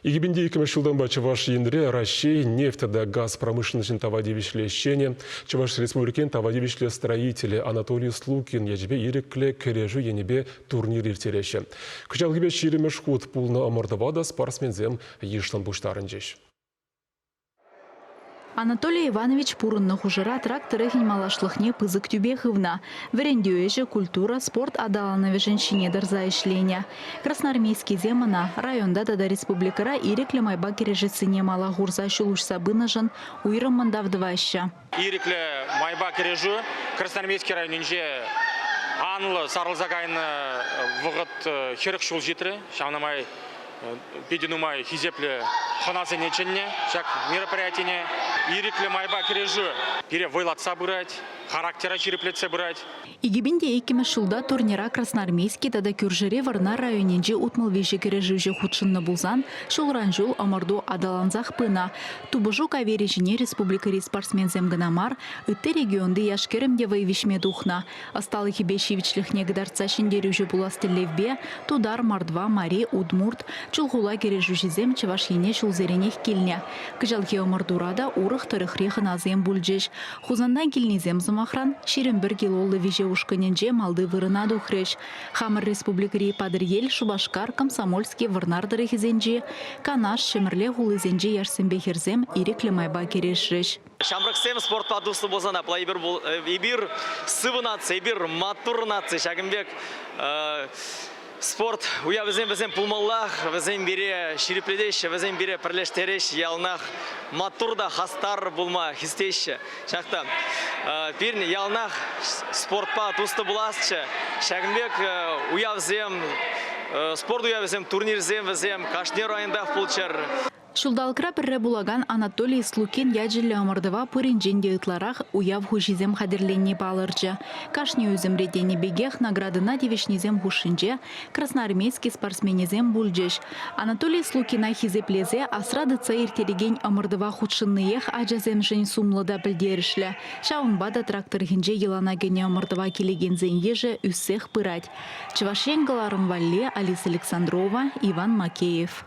2002 ҫултанпа Чӑваш Енре Раҫҫей нефть тата газ промышленноҫӗн тава тивӗҫлӗ ӗҫченӗ, Чӑваш Республикин тава тивӗҫлӗ строителӗ Анатолий Слукин ячӗпе ирӗклӗ кӗрешӳ енӗпе турнир ирттереҫҫӗ. Кӑҫалхипе ҫирӗммӗш хут пулнӑ ӑмӑртӑва та спортсменсем йышлӑн пуҫтарӑнчӗҫ. Анатолий Иванович пурӑннӑ хушӑра трак тӑрӑхӗн малашлӑхне пысӑк тӳпе хывнӑ. Вӗрентӳ ӗҫӗ, культура, спорт аталанӑвӗшӗн ҫине тӑрса ӗҫленӗ. Красноармейскисем ӑна районта тата республикӑра ирӗклӗ майпа кӗрешессине мала хурса ҫул уҫса пынӑшӑн уйрӑммӑн тав тӑваҫҫӗ. Ирӗклӗ майпа кӗрешӳ Красноармейски районӗнче анлӑ сарӑлса кайнӑ вӑхӑт хӗрӗх ҫул ҫитрӗ. Ҫавна май питӗ нумай хисеплӗ хӑнасене чӗннӗ ҫак мероприятине. Ирӗклӗ майпа кӗрешӳ пире вӑйлатса пырать, характера ҫирӗплетсе пырать. Икӗпин те иккӗмӗш ҫулта турнира Красноармейски тата кӳршӗри Вӑрнар районӗнчи утмӑл виҫӗ кӗрешӳҫӗ хутшӑннӑ пулсан, ҫулран-ҫул ӑмӑрту аталансах пынӑ. Тупӑшу кавирӗ ҫине республикӑри спортсменсем кӑна мар, ытти регионти яш-кӗрӗм те вӑй виҫме тухнӑ. Ӑсталӑхӗпе ҫивӗчлӗхне кӑтартса ҫӗнтерӳҫӗ пулас тӗллевпе Тутар, Мордва, Мари, Удмурт, Чулхула кӗрешӳҫисем Чӑваш Ене ҫулсеренех килнӗ. Кӑҫалхи ӑмӑртура та урӑх тӑрӑхри хӑнасем пулчӗҫ. Хусантан килнисем, сӑмахран, ҫирӗм пӗр килоллӑ виҫе ушкӑнӗнче малти вырӑна тухрӗҫ. Хамӑр республикӑри Патӑрьел, Шупашкар, Комсомольски, Вӑрнар тӑрӑхӗсенчи, Канаш, Ҫӗмӗрле хулисенчи яшсемпе хӗрсем ирӗклӗ майпа кӗрешрӗҫ. Ҫамрӑксем спортпа туслӑ пулсан апла эпир сывӑ наци, эпир маттур наци ҫакӑн пек Спорт уявӗсем вӗсем пулмаллах, вӗсем пире ҫирӗплетеҫҫӗ, вӗсем пире пӗрлештереҫҫӗ, яланах маттур та хастар пулма хистеҫҫӗ. Ҫак та пирӗн яланах спортпа туслӑ пуласчӗ. Ҫакӑн пек уявсем, спорт уявӗсем, турнирсем вӗсем кашни районтах пулччӑр. Ҫулталӑкра пӗрре пулакан Анатолий Слукин ячӗллӗ ӑмӑртӑва пуринчен те ытларах уяв хуҫисем хатӗрленни палӑрчӗ. Кашни ӳсӗмри тенӗ пекех наградӑна тивӗҫнисем хушшинче красноармейски спортсменӗсем пулчӗҫ. Анатолий Слукина хисеплесе асра тытса ирттерекен ӑмӑртӑва хутшӑнниех ачасемшӗн сумлӑ та пӗлтерӗшлӗ. Ҫавӑнпа та трактор хӗнче йӑлана кӗнӗ ӑмӑртӑва килекенсен йышӗ ӳссех пырать. Чӑваш Ен кӑларӑм валли Алиса Александрова, Иван Макеев.